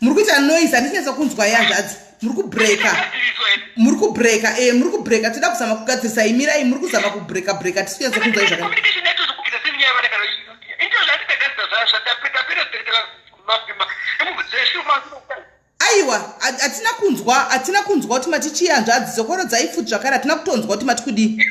muri kuita noise handichinetsa kunzwa yanzvadzi muri kubreaka muri kubreaka e eh, muri kubreaka tida kuzama kugadzirisa imirai muri kuzama kubreaka breaka tisi kunetsa kunzwa izvaka aiwa hatina kunzwa hatina kunzwa kuti matichiyanzvadzi zokoro dzaifuti zvakare hatina kutonzwa kuti matikudii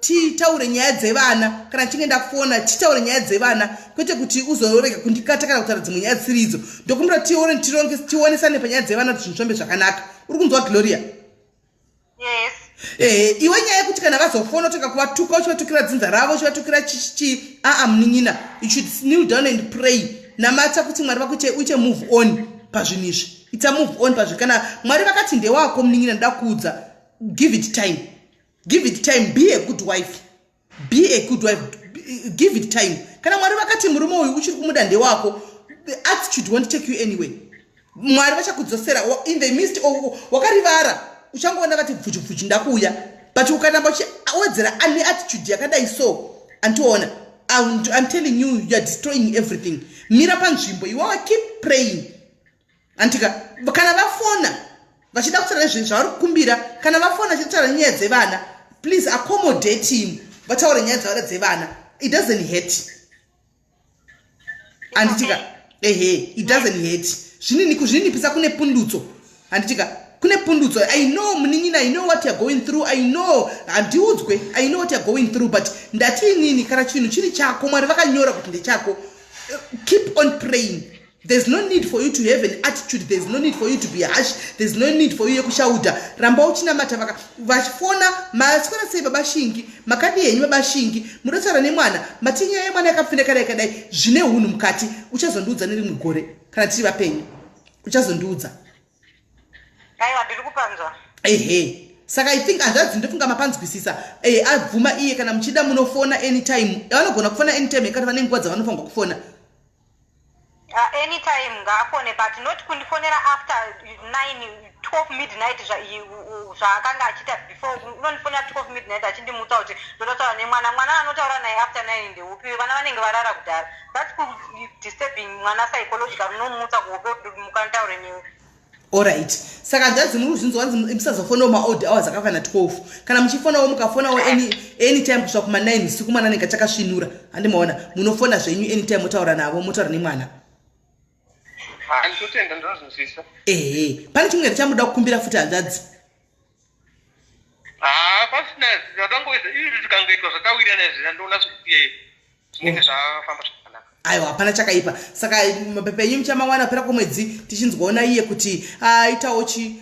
titaure nyaya dzevana kana tichinge ndafona titaure nyaya dzevana kwete kuti uzorega kundikata kana kutaura dzimwe nyaya dzisiri idzo ndokumbira tione tironge tionesane panyaya dzevana kuti zvinhu zvambe zvakanaka uri kunzwa gloria yes ehe eh, iwe nyaya yekuti kana vazofona utoka kuvatuka uchivatukira dzinza ravo uchivatukira chichi aa munin'ina you should kneel down and pray namata kuti mwari vakuite uite move on pazvinhu izvi ita move on pazvinhu kana mwari vakati ndewako munin'ina ndoda kuudza give it time give it time be a good wife be a good wife give it time kana mwari vakati murume uyu uchiri kumuda ndewako attitude won't take you anyway mwari vachakudzosera in the midst wakarivara uchangoona vati bvujubvuji ndakuuya but ukanamba uchiwedzera ane attitude yakadai so antiona I'm, I'm telling you, you're destroying everything. Mira panzvimbo, you are keep praying. antika kana vafona vachida kutaura zvinhu zvavari kukumbira kana vafona vachida kutaura nyaya dzevana please accommodate him vataure nyaya dzavada dzevana it doesn't hurt anditika ehe it doesn't hurt zvinini kuzvinipisa kune pundutso anditika kune pundutso i know munin'ina i know what youare going through i know handiudzwe i know what youare going through but ndati inini kana chinhu chiri chako mwari vakanyora kuti ndechako keep on praying There's no need for you to have an attitude. There's no need for you to be harsh. There's no need for you yekushauda. Ramba uchinamata vaka vachifona masikana sei baba Shingi, makadi yenyu baba Shingi, murotsara nemwana, matinya yemwana yakapfindekana yakadai zvine hunhu mukati. Uchazondiudza nerimwe gore kana tiri vapenyu. Uchazondiudza. Aiwa ndiri kupanzwa. Ehe. Saka I think hanzvadzi ndofunga mapanzwisisa. Eh abvuma iye kana muchida munofona anytime. Vanogona kufona anytime kana vane nguva dzavanofanirwa kufona. Uh, anytime ngaafone but not kundifonera after 9 12 midnight zvaakanga achiita before unondifonera 12 midnight achindimutsa kuti ndototaura nemwana mwana anotaura naye after 9 ndeupi vana vanenge varara kudhara thats disturbing mwana psychological unomutsa kuhope kuti mukantaure newe orit saka hanzvadzi muri kuzvinzi wanzi musazofonawo maold hours akafana 12 kana muchifonawo mukafonawo anytime kusvika kuma9 usiku mwana anenge achakasvinura handi maona munofona zvenyu anytime motaura navo motaura nemwana ehe pane chimwe here chamuda kukumbira futi hanzvadzi haa pasina zvatangoita izvi zvikangoitwa zvatawirirana izvi ndandoona zvekuti zvinenge zvafamba zvakanaka aiwa hapana chakaipa saka mapepa enyu muchamawana pera kwemwedzi tichinzwaona iye kuti aitawo chi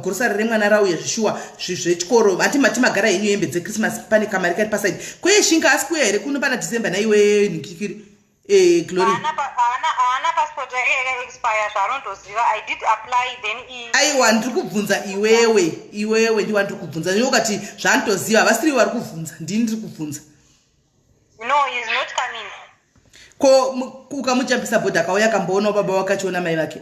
grosari remwana rauye zvishuwa zvechikoro hati mati magara henyu hembe dzechristmas pane kamari kari pasaidi kweye shinga asi kuya here kuno pana december naiwe nikikiri Eh, Glory. Haana passport yake yaka expire zvaanondoziva. I did apply then i Aiwa ndiri kubvunza iwewe, iwewe ndiwa ndiri kubvunza. Ndiwe ukati zvaandoziva havasiri vari kubvunza, ndini ndiri kubvunza. No, he is not coming. Ko ukamujambisa boda kauya akamboona baba wakachiona mai vake.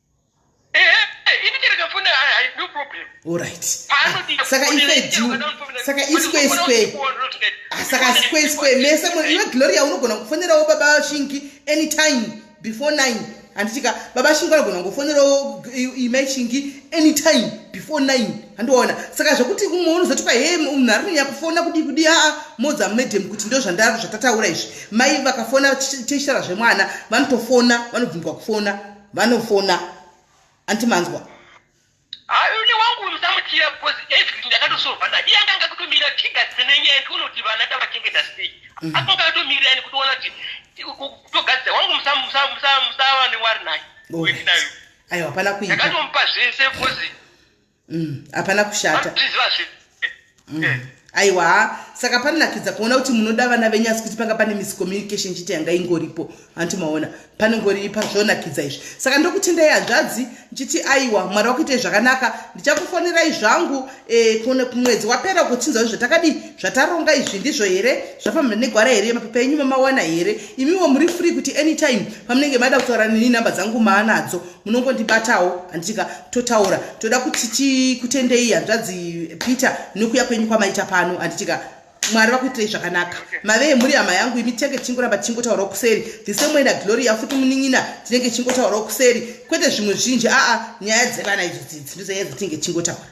saka iskweskwesaka ah, skweskwee mese iwe gloria unogona kufonerawo baba shingi anytime before nine handitika baba shingi vanogona kungofonerawo imai shingi anytime before nine handiona saka zvekuti umwe unozotika he munhu ari kunyanya kufona kudii kudii aa modza madam kuti ndo zvandari zvatataura izvi mai vakafona teshara zvemwana vanotofona vanobvunzwa kufona vanofona anti manzwa aune wangu uyu samutira because everything ndakatosolva naye iye anganga kutomira tigadzise nenyaya yekuti unoti vana tavachengeta sei mm. asi mukatomirira yani kutoona kuti kutogadzisa wangu musava newari naye uyu ndinayo aiwa hapana kuita ndakatomupa zvese because mm, hapana mm, kushata mm. Eh. aiwa ha saka panonakidza kuona kuti munoda vana venyu asi kuti panga pane miscommunication chiti yanga ingoripo hanti maona panongori pazvonakidza izvi saka ndokutendai hanzvadzi ndichiti aiwa mwari wakuitei zvakanaka ndichakufonerai zvangu eh, mwedzi wapera kuchinzwa izvo takadii zvataronga izvi ndizvo here zvafambira negwara here mapepa enyu mamawana here imiwo muri free kuti anytime pamunenge mada kutaura nini namba dzangu maanadzo munongondibatawo handitika totaura toda kuti tikutendei hanzvadzi peter nokuya kwenyu kwamaita pano handitika mwari vakuitirei zvakanaka mave mhuri hama yangu imi tinenge tichingoramba tichingotaurawo kuseri the same way naglory yafuti munin'ina tinenge tichingotaurawo kuseri kwete zvimwe zvinji aa nyaya dzevana idzo dzidzi ndizoyedza tinenge tichingotaura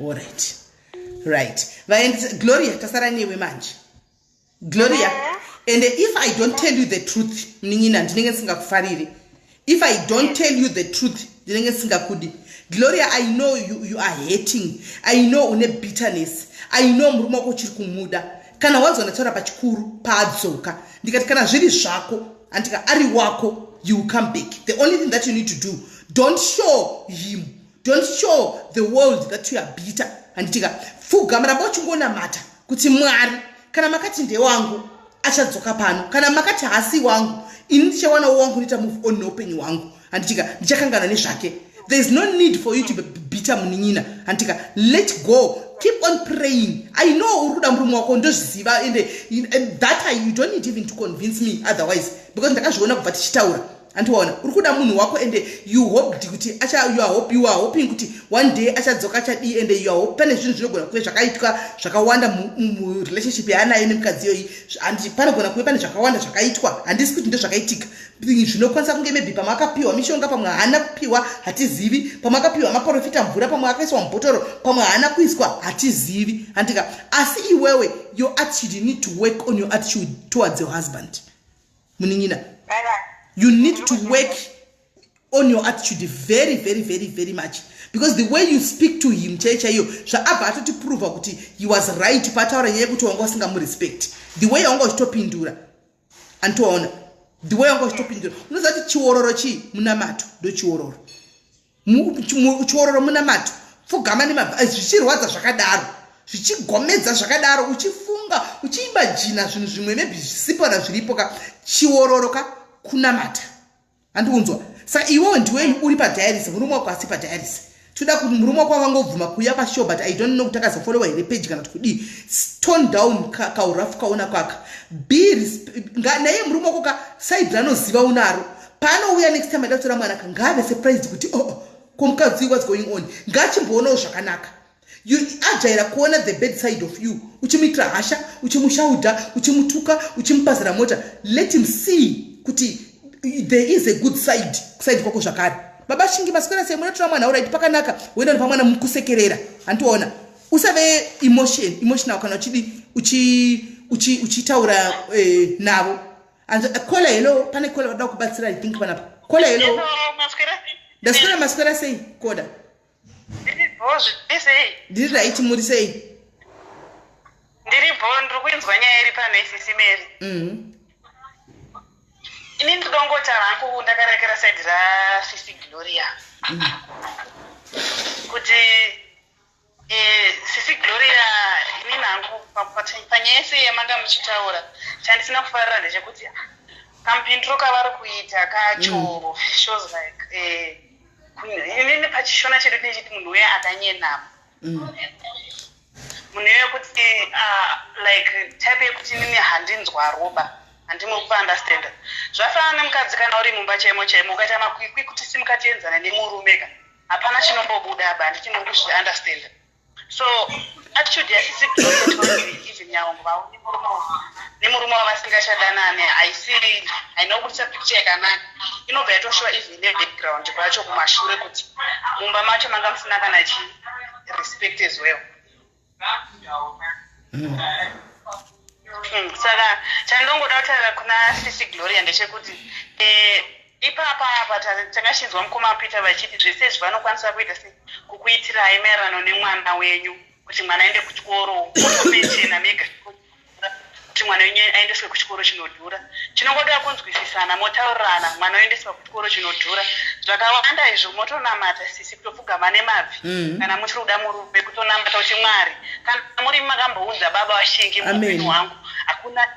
Alright. Right. Vaendisa Gloria tasara newe manje. Gloria. Yeah. And if I don't tell you the truth, mnin'ina ndinenge ndisingakufariri. If I don't tell you the truth, ndinenge ndisingakudi. Gloria, I know you, you are hating. I know une bitterness. I know murume wako uchiri kumuda. kana wanzwa ndataura pachikuru paadzoka ndikati kana zviri zvako andika ari wako you will come back the only thing that you need to do don't show him don't show the world that you are bitter handitika pfugama ramba uchingonamata kuti mwari kana makati ndewangu achadzoka pano kana makati hasi wangu ini ndichawanawo wangu unoita move on neupenyu hwangu handitika ndichakangana nezvake there is no need for you to be bitter munin'ina handitika let go keep on praying i know uri kuda murume wako ndozviziva and that I, you don't need even to convince me otherwise because ndakazviona kubva tichitaura andiwaona uri kuda munhu wako and you hoped kuti you are hoping kuti one day achadzoka achadii and you are hope pane zvinhu zvinogona kuve zvakaitwa zvakawanda murelationship yaanayo nemukadzi iyoyi panogona kuve pane zvakawanda zvakaitwa handisi kuti ndozvakaitika zvinokwanisa kunge maybe pamwe akapiwa mishonga pamwe haana kupiwa hatizivi pamwe akapiwa maporofita mvura pamwe akaiswa mubhotoro pamwe haana kuiswa hatizivi handika asi iwewe your attitude you need to work on your attitude towards your husband munin'ina you need to work on your attitude very very very very much because the way you speak to him chai chaiyo zvaabva atotiprova kuti he was right paataura nyaya yekuti wanga usingamurespect the way yaunga uchitopindura antoona ndiwe yanga uchitopindura unoziva kuti chiororo chii munamato ndochiororo chiororo munamato pfugama nemabva eh, zvichirwadza zvakadaro zvichigomedza zvakadaro uchifunga uchiimba jina zvinhu zvimwe maybe zvisipona zviripo ka chiororo ka kunamata andiunzwa sa iwewe ndiweni uri padiaris murume wako asi padiaris tinoda kuti murume wako akangobvuma kuuya pashow but i don't know kuti akazofolewa here peji kana kuti kudii stone down kaurafu kaona kwaka be naye murume wako ka saidi ranoziva unaro paanouya next time aida kutora mwana ka ngaave surprised kuti oo oh, oh, ko mukadzi what's going on ngachimboonawo zvakanaka ajaira kuona the bad side of you uchimuitira hasha uchimushaudha uchimutuka uchimupazira mota let him see kuti there is a good side kuside kwako zvakare baba shingi maswera sei munotora mwana uraiti pakanaka woenda nepamwana mukusekerera handiona usave emotion emotional kana uchidi uchitaura eh, navo kola helo pane kola vada kubatsira i think panapa kola helo ndaswera maswera sei koda ndiri right muri sei ndiri bho ndiri kuinzwa nyaya iri pano isisi meri mhm. ini ndidongotaura hangu ndakarekera saidi rasisi gloria mhm. kuti e, sisi gloria ini nangu panyaya yese yamanga muchitaura chandisina kufarira ndechekuti kampindiro kavari kuita kacho mm. shows like eh, inini pachishona chedu tinechiti munhu uye akanyenama mm. munhu iye kuti uh, like type yekuti inini handinzwa roba handimwe kupaundastanda zvafanana nemukadzi kana uri mumba chaimo chaimo ukaita makwikwi kuti simukatienzana nemurume ka hapana chinombobuda aba handichimwe kuzviundastanda so attitude yasisi even yaungu vauni murume nemurume wavasingachadanane haisi haina kubudisa picture yakanaka inobva yatoshuva even nebackground kwacho kumashure kuti mumba macho manga musina kana chii respect as well hmm, saka chandongoda kutaura kuna sisi gloria ndechekuti eh, ipapa apa takachinzwa mukoma peter vachiti zvese izvi vanokwanisa kuita se kukuitirai maererano nemwana wenyu kuti mwana aende kuchikoro mechena mega kuti mwana wenyu aendeswe kuchikoro chinodhura chinongoda kunzwisisana motaurirana mwana oendeswa ku chikoro chinodhura zvakawanda izvo motonamata sisi kutopfugama nemabvi mm. kana muchiri kuda murume kutonamata kuti mwari kana muri makamboudza baba vashingi muupenyu hwangu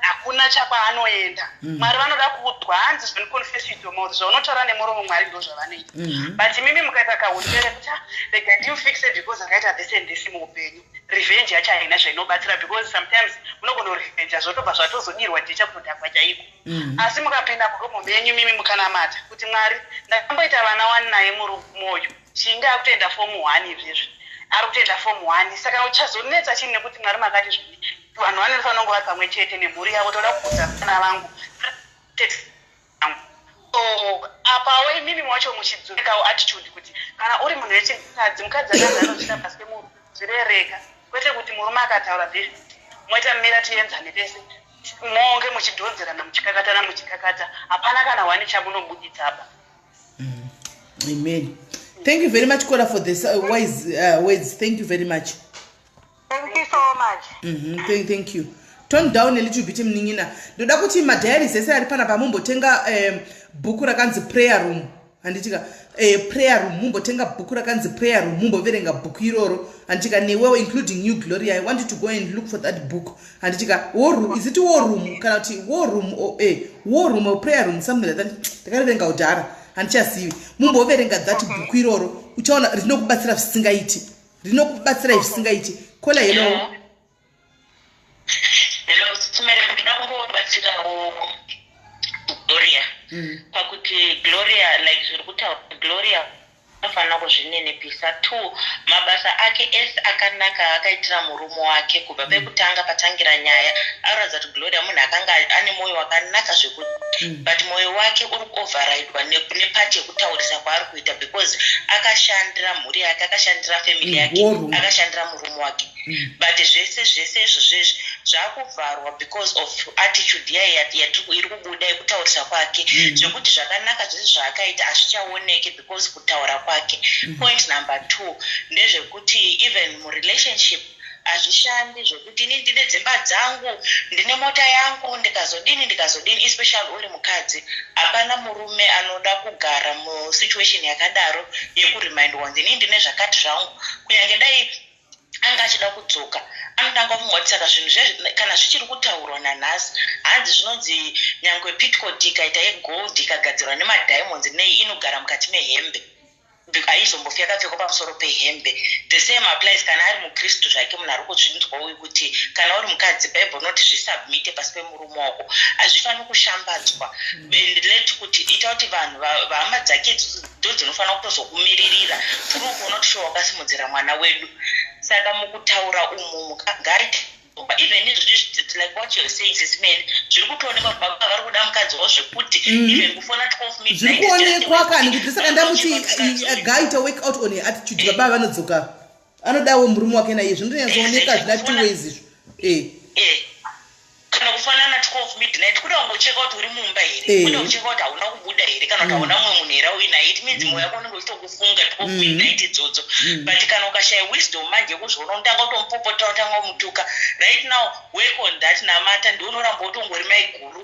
hakuna chakwaanoenda mm. mwari vanoda kuudzwa hanzi zvinoconfesitomo zvaunotaura nemuromo mwari ndo zvavanoita mm-hmm. but mimi mukaita kahutere kuti ah, rega ndimfixe because akaita this and this muupenyu revenge yacho haina zvainobatsira because sometimes unogona kurevenja zvotobva zvatozodirwa jecha kutodhakwa chaiko Mm. asi mukapinda murumu menyu mimi mukanamata kuti mwari ndakamboita vana wani naye murumu uyu chinge akutoenda fomu one izvezvi ari kutoenda fomu one saka uchazonetsa chini nekuti mwari makati zvii vanhu vane rufa vanongo vari pamwe chete nemhuri yavo toda kuudza vana vangu so apawo imimi wacho muchidzurikawo attitude kuti kana uri munhu wechikadzi mukadzi akanzi anochita pasi pemuru zvirereka kwete kuti murume akataura zvezvi moita mira tienzane pese monge muchidhonzerana muchikakatana muchikakata hapana kana wani chamunobuditsa apa mm. amen thank you very much kora for this uh, wise uh, words thank you very much thank you so much mm -hmm. thank, thank you tone down elittle bit mnin'ina ndoda kuti madiaries ese ari panapa mumbotenga um, bhuku rakanzi prayer room handitika eh, prayer room mumbotenga bhuku rakanzi prayer room mumboverenga bhuku iroro handitika newewo including new glory i want you to go and look for that book handitika war room is it war room kana kuti war room or oh, eh, war room or prayer room something like that ndakariverenga kudhara handichazivi mumboverenga that bhuku iroro uchaona rinokubatsira zvisingaiti rinokubatsirai zvisingaiti kola hello yeah. Hello, Sumere, ndinoda kumbobatsirawo Gloria. Mm. Pakuti Gloria, like zviri kutaura Gloria anofanira kuzvininipisa two mabasa ake ese akanaka akaitira murume wake kubva mm. pekutanga patangira nyaya aratidza kuti gloria munhu akanga ane mwoyo wakanaka zvekuti mm. but mwoyo wake uri kuoverridwa nepati yekutaurisa kwaari kuita because akashandira mhuri yake akashandira family yake akashandira murume wake mm. but zvese zvese izvo zvezvi zvakuvharwa because of attitude yaye iri kubuda yekutaurisa kwake mm. zvekuti zvakanaka zvese zvaakaita hazvichaoneke because kutaura kwake mm. point number two ndezvekuti even murelationship hazvishandi zvekuti ini ndine dzimba dzangu ndine mota yangu ndikazodini ndikazodini especially uri mukadzi hapana murume anoda kugara musituation yakadaro yekuremind wonzi ini ndine zvakati zvangu kunyange dai anga achida kudzoka anotanga kumwa kuti saka zvinhu zve kana zvichiri kutaurwa nanhasi hanzi zvinonzi nyangwe pitcot ikaita yegold ikagadzirwa nemadiamonds nei inogara mukati mehembe haizombofi yakapfekwa pamusoro pehembe the same applies kana ari mukristu zvake munhu ari kuzvinzwa uyu kuti kana uri mukadzi bible noti zvisubmite pasi pemurume wako hazvifaniri kushambadzwa and let kuti ita kuti vanhu vahama dzake ndodzinofanira kutozokumiririra tiri ukuona kuti shuwa wakasimudzira mwana wedu saka mukutaura umu mukagaita even izvozvi like what you're saying sisi mene zviri kutoonekwa kuti baba vari kuda mukadzi wavo zvekuti mhm. even kufona 12 minutes zviri kuonekwa kani kuti saka ndamuti agaita work out on attitude baba vanodzoka anodawo murume wake naiye zvinonyatsooneka zvina two ways izvo eh. eh. kana kufanana twelve midnight kuda kungocheka kuti uri mumba here eh. kuda kucheka kuti hauna kubuda here kana kuti hauna mm. mumwe munhu here auinaye it means mm. moyo wako unenge uchitokufunga twelve mm. midnight idzodzo but kana ukashaya wisdom manje kuzviona unotanga kutomupopota utanga kumutuka right now work on that namata ndiunoramba utongori maiguru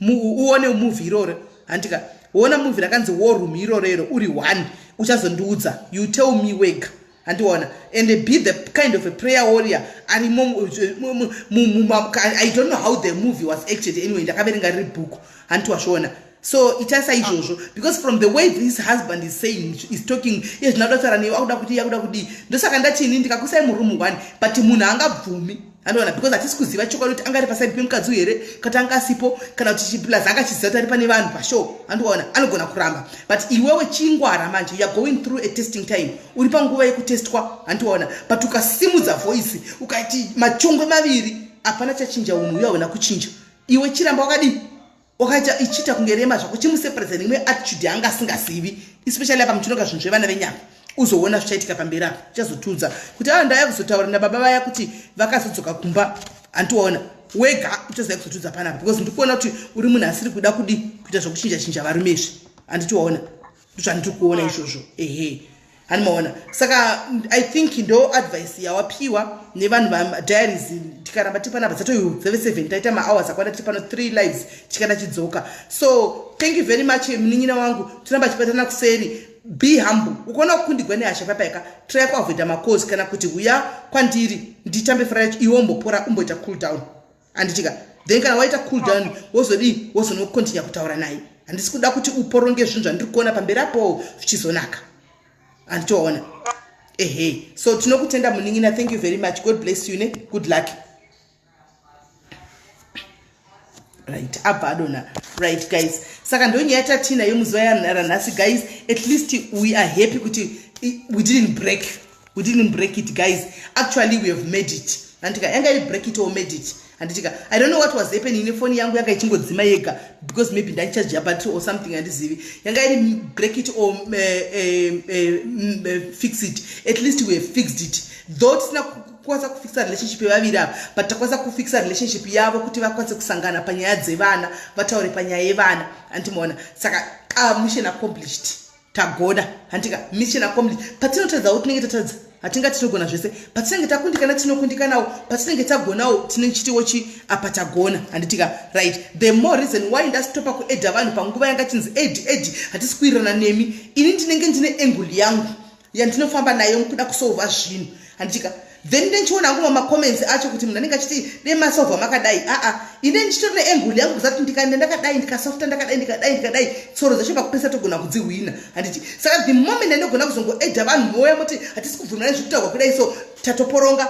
uone movie iroro handika wona movie rakanzi war room iroro iro uri one uchazondiudza you tell me wega handiona and be the kind of a prayer warrior arimo i don't know how the movie was acted anyway ndakaverenga riri book handiwasvona so itaisa izvozvo because from the way this husband is saying is talking iye zvinoda kutaura newe akuda kuti iye akuda kudii ndosaka ndachini ndikakusai murumu one but munhu angabvumi anowana because hatisi kuziva chokwadi kuti anga ari pasaidi pemukadzi uyu here kati anga asipo kana kuti chiplus anga achiziva kuti ari pane vanhu pashow andiwaona anogona kuramba but iwewe chingwara manje youare going through a testing time uri panguva yekutestwa handiwaona but ukasimudza voice ukaiti machongwe maviri hapana chachinja unhu uyaona kuchinja iwe chiramba wakadii wakaita ichiita kunge rema zvako chimusepredza neimwe attitude yaanga asingazivi especially apa muchinoga zvinhu zvevana venyama uzoona zvichaitika pamberi apo uchazotiudza kuti aa ah, ndaya kuzotaura nababa vaya kuti vakazodzoka kumba handiwaona wega uchazaya kuzotiudza panapa because ndikuona kuti uri munhu asiri kuda kudi kuita zvokuchinja chinja varume izvi handitiwaona ndozvandiri kuona ah. izvozvo ehe hani maona saka i think ndo advice yawapiwa nevanhu vadiaries tikaramba tiri panapa dzatoyudzeve seven taita mahours akwana tiri pano three lives tikana chidzoka so thank you very much munin'ina wangu tiramba chibatana kuseri be humble ukaona kukundigwa nehasha papaika try kuavoida macosi kana kuti huya kwandiri nditambe fara yacho iwe umbopora umboita cool down handitika then kana waita cool down wozodii wozonokontinya kutaura naye handisi kuda kuti uporonge zvinhu zvandiri kuona pamberi apo zvichizonaka handitoona ehe so tinokutenda munin'ina thank you very much god bless you ne good luck right abva adona right guys saka ndo nyaya tatina yemuzuva yanhara nhasi guys at least we are happy kuti we didn't break we didn't break it guys actually we have made it handitika yanga iri break it or made it handitika i don't know what was happening nefoni yangu yanga ichingodzima yega because maybe ndaichaji yabattery or something handizivi yanga iri break it or uh, uh, uh, fix it at least we have fixed it though tisina kukwanisa kufixa relationship yevaviri ava but takwanisa kufixa relationship yavo kuti vakwanise kusangana panyaya dzevana vataure panyaya yevana andimoona saka ah, mission accomplished tagoda hantika mission accomplish patinotadza wo tinenge tatadza hatinga tinogona zvese patinenge takundikana tinokundikanawo patinenge tagonawo tine chitiwo chi apa tagona handitika right the more reason why ndasitopa kuedha vanhu panguva yanga chinzi ed ed hatisi kuirana nemi ini ndinenge ndine enguli yangu yandinofamba nayo mukuda kusolva zvinhu handichika then ndenchiona hangu mamacomments acho kuti munhu anenge achiti dei masovha makadai aa ine ndichitori neengul yangu kuza kuti ndikaenda ndakadai ndikasofta ndakadai ndikadai ndikadai tsoro dzacho pakupesa togona kudzihwina handiti saka the moment andogona kuzongoeda vanhu moya moti hatisi kubvumirana zvekutaurwa kudai so tatoporonga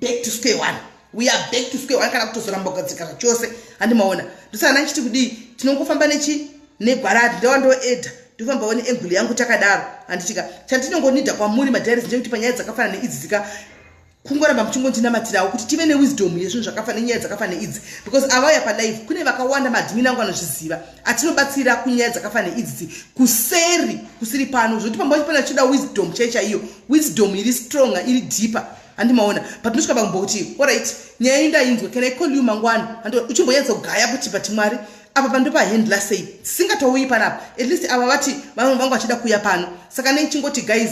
back to square one we are back to square one kana kutozoramba kugadzika zvachose handi maona ndosaka ndandichiti kudii tinongofamba nechi negwaradi ndawa ndoedha ndofamba one engule yangu takadaro handitika chandinongonida kwamuri madiaris ndekuti panyaya dzakafana neidzi dzika kungoramba muchingondinamatirawo kuti tive newisdom yezvinhu zvakafana nenyaya dzakafana neidzi because avauya palive kune vakawanda maadmin angu anozviziva atinobatsira kunyaya dzakafana neidzi kuseri kusiri pano zvokuti pambacho pane vachida wisdom chai chaiyo wisdom iri stronger iri deeper handi maona but ndosvika pamumbo kuti orit nyaya indainzwa can i call you mangwani and uchimboyedza kugaya kuti but mwari apa pando pahandla sei dzisingatouyi panapa at least ava vati vamwe vangu vachida kuuya pano saka nei chingoti guys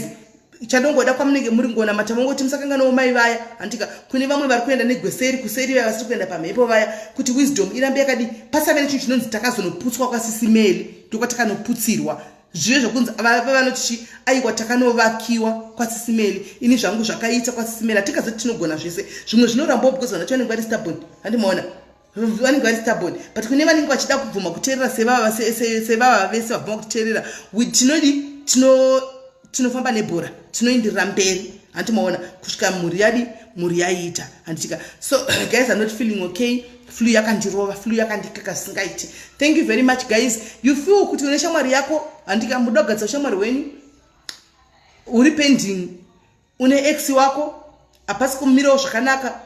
chandongoda kwamunenge muri ngona mata mongoti musakanganawo mai vaya handika kune vamwe vari kuenda negweseri kuseri vaya vasiri kuenda pamhepo vaya kuti wisdom irambe yakadi pasave nechinhu chinonzi takazonoputswa kwasisimeli ndokwati kanoputsirwa zvive zvokunzi vava vanoti chi aiwa takanovakiwa kwasisimeli ini zvangu zvakaita kwasisimeli hatingazoti tinogona zvese zvimwe zvinorambao because vanoti vanenge vari stabon handimaona vanenge vari stabon but kune vanenge vachida kubvuma kuteerera sevava sevava vese vabvuma kutiteerera tinodi tinofamba nebhora tinoindirira mberi handimaona kusvika mhuri yadi mhuri yaiita handitika so guys anoti feeling okay flu yakandirova flu yakandikaka singaiti thank you very much guys you feel kuti une shamwari yako handika muda kugadza ushamwari hwenyu uri pending une ex wako hapasi kumirawo zvakanaka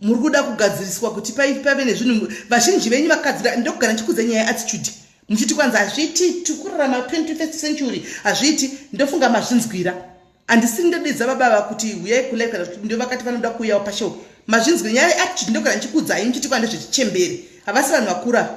muri kuda kugadziriswa kuti pave nezvinhu vazhinji venyu vakadzira ndokugara ndichikudza nyaya yeattitude muchiti kwanzi hazviiti tikurarama 21st century hazviiti ndofunga mazvinzwira andisiri ndodidza baba ava kuti huyai kulive kana kuti ndovakati vanoda kuuyawo pashow mazvinzwi nyaya yeattitude ndogara ndichikuudzai muchiti kwanda zvechichembere havasi vanhu vakura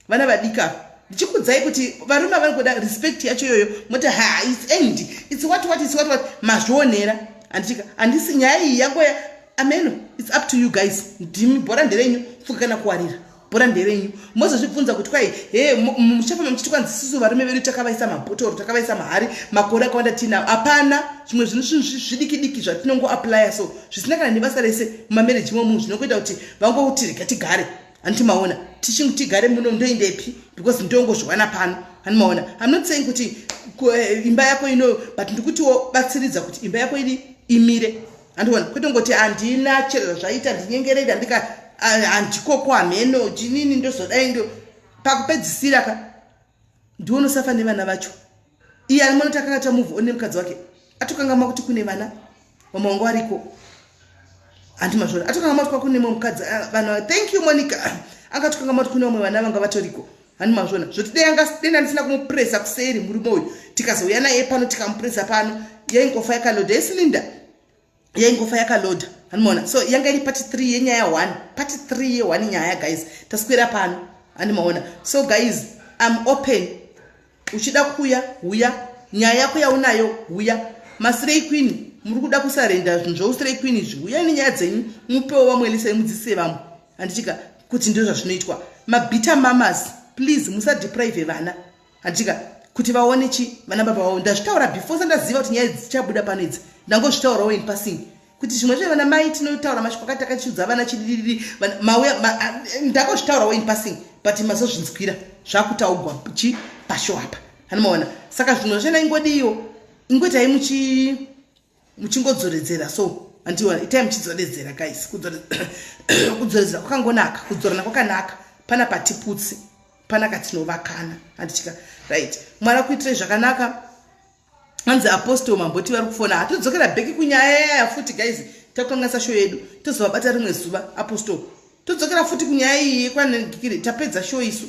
vana vadika ndichikuudzai kuti varume avari kuda respect yacho iyoyo moti ha its end its what what its what what mazvionera anditika andisi nyaya iyi yangoya ameno its up to you guys ndimi bhora nderenyu fuka kana kuwarira bhora nderenyu mozozvibvunza kuti kwai he muchafamba muchiti kwanzi sisu varume vedu takavaisa mabhotoro takavaisa mahari makore akawanda tiinawo hapana zvimwe zvinhu zvinhu zvidikidiki zvatinongoaplya so zvisina kana nebasa rese mumamereji momunhu zvinongoita kuti vangoti rega tigare hanti maona tichingu tigare muno ndoindepi because ndongozviwana pano hani maona am not saying kuti eh, imba yako ino but ndikutiwo batsiridza kuti imba yako ini imire andiona kwete ngoti handina chero zvaita ndinyengerera ndika handikoko hameno chinini ndozodai ndo pakupedzisira ka ndiwo nosafa nevana vacho iye ari mwana takakata move one mukadzi wake atokangamwa kuti kune vana mama wangu ariko handi mazvona atokangamwa kuti kwakune mwe mukadzi ah, vana thank you monica angatokangamwa kuti kune vamwe vana vanga vatoriko hani mazvona zvoti deyanga denda ndisina kumupuresa kuseri murume uyu tikazouya naye pano tikamupuresa pano yaingofa yakaloda yesilinda yaingofa yakaloda hanimona so yanga iri pati three yenyaya one pati three ye one nyaya guys taswera pano handimaona so guys im open uchida kuya huya nyaya yako yaunayo huya masirei queen muri kuda kusarenda zvinhu zvousirei queen izvi huya nenyaya dzenyu mupewo vamwe lisai mudzisise vamwe handitika kuti ndizvo zvazvinoitwa mabita mamas please musadeprive vana handitika kuti vaone chi vana baba vavo ndazvitaura before sandaziva kuti nyaya dzichabuda pano idzi ndangozvitaurawo in passing kuti zvimwe zve vana mai tinotaura mashoko akati akachiudza vana chidididi mauya ndakazvitaurawo in passing but mazozvinzwira zvakutaugwa chi pasho apa hanimaona saka zvimwe zvena ingodiyo ingoitai muchi muchingodzoredzera so andiwa itai muchidzoredzera guys kudzoredzera kwakangonaka kudzorana kwakanaka pana patiputsi pana katinovakana handitya right mwari akuitirai zvakanaka hanzi apostol mamboti vari kufona hatodzokera bheki kunyaya yaya futi guys takukanganisa show yedu tozovabata rimwe zuva apostol todzokera futi kunyaya iyi yekwanegikiri tapedza show isu